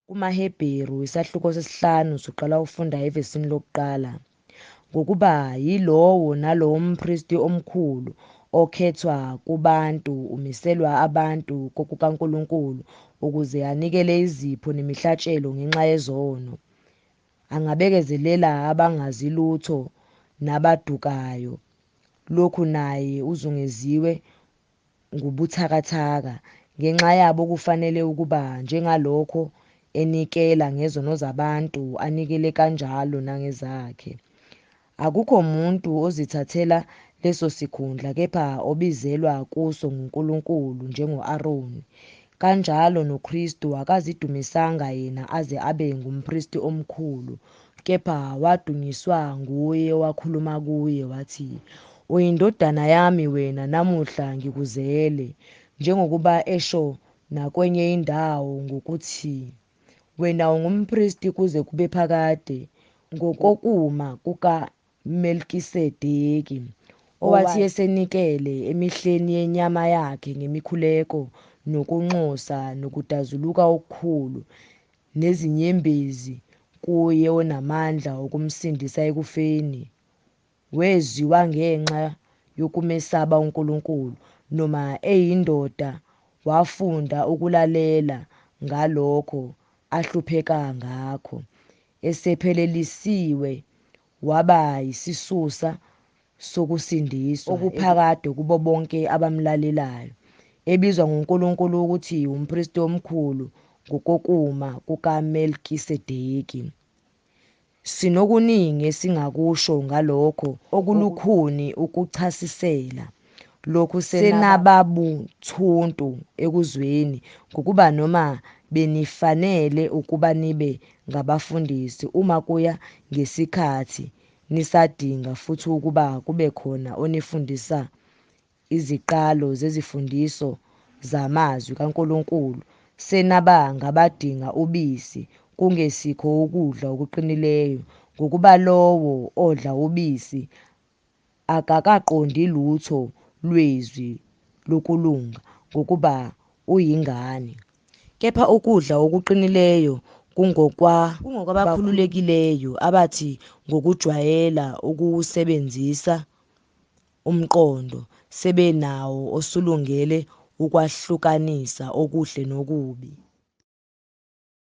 KumaHebheru, isahluko sesihlanu, usuqala ufunda evesini lokuqala, ngokuba yilowo nalowo mpristi omkhulu okhethwa kubantu umiselwa abantu kokukaNkulunkulu ukuze anikele izipho nemihlatshelo ngenxa yezono, angabekezelela abangazi lutho nabadukayo, lokhu naye uzungeziwe ngubuthakathaka, ngenxa yabo kufanele ukuba njengalokho enikela ngezono zabantu anikele kanjalo nangezakhe. Akukho muntu ozithathela leso sikhundla kepha obizelwa kuso nguNkulunkulu njengo-Aroni. Kanjalo noKristu akazidumisanga yena aze abe ngumpristi omkhulu kepha wadunyiswa nguye wakhuluma kuye wathi, Uyindodana yami wena namuhla ngikuzele, njengokuba esho nakwenye indawo ngokuthi, Wena ungumpristi kuze kube phakade, ngokokuma kuka Melkisedeki, owathi esenikele emihleni yenyama yakhe ngemikhuleko nokunxusa nokudazuluka okukhulu nezinyembezi kuye onamandla okumsindisa ekufeni, wezwiwa ngenxa yokumesaba uNkulunkulu, noma eyindoda wafunda ukulalela ngalokho ahlupheka ngakho. esephelelisiwe waba yisisusa sokusindiswa okuphakade kubo bonke abamlalelayo, ebizwa nguNkulunkulu ukuthi umpristi omkhulu ngokokuma kukaMelkisedeki. Sinokuningi esingakusho ngalokho okulukhuni ukuchasisela. lokhu senababuthuntu ekuzweni ngokuba noma benifanele ukuba nibe ngabafundisi uma kuya ngesikhathi nisadinga futhi ukuba kube khona onifundisa iziqalo zezifundiso zamazwi kaNkulunkulu senaba ngabadinga ubisi kungesikho ukudla okuqinileyo ngokuba lowo odla ubisi akakaqondi lutho lwezwi lokulunga ngokuba uyingane. Kepha ukudla okuqinileyo kungokwabakhululekileyo abathi ngokujwayela ukuwusebenzisa umqondo sebenawo osulungele ukwahlukanisa okuhle nokubi.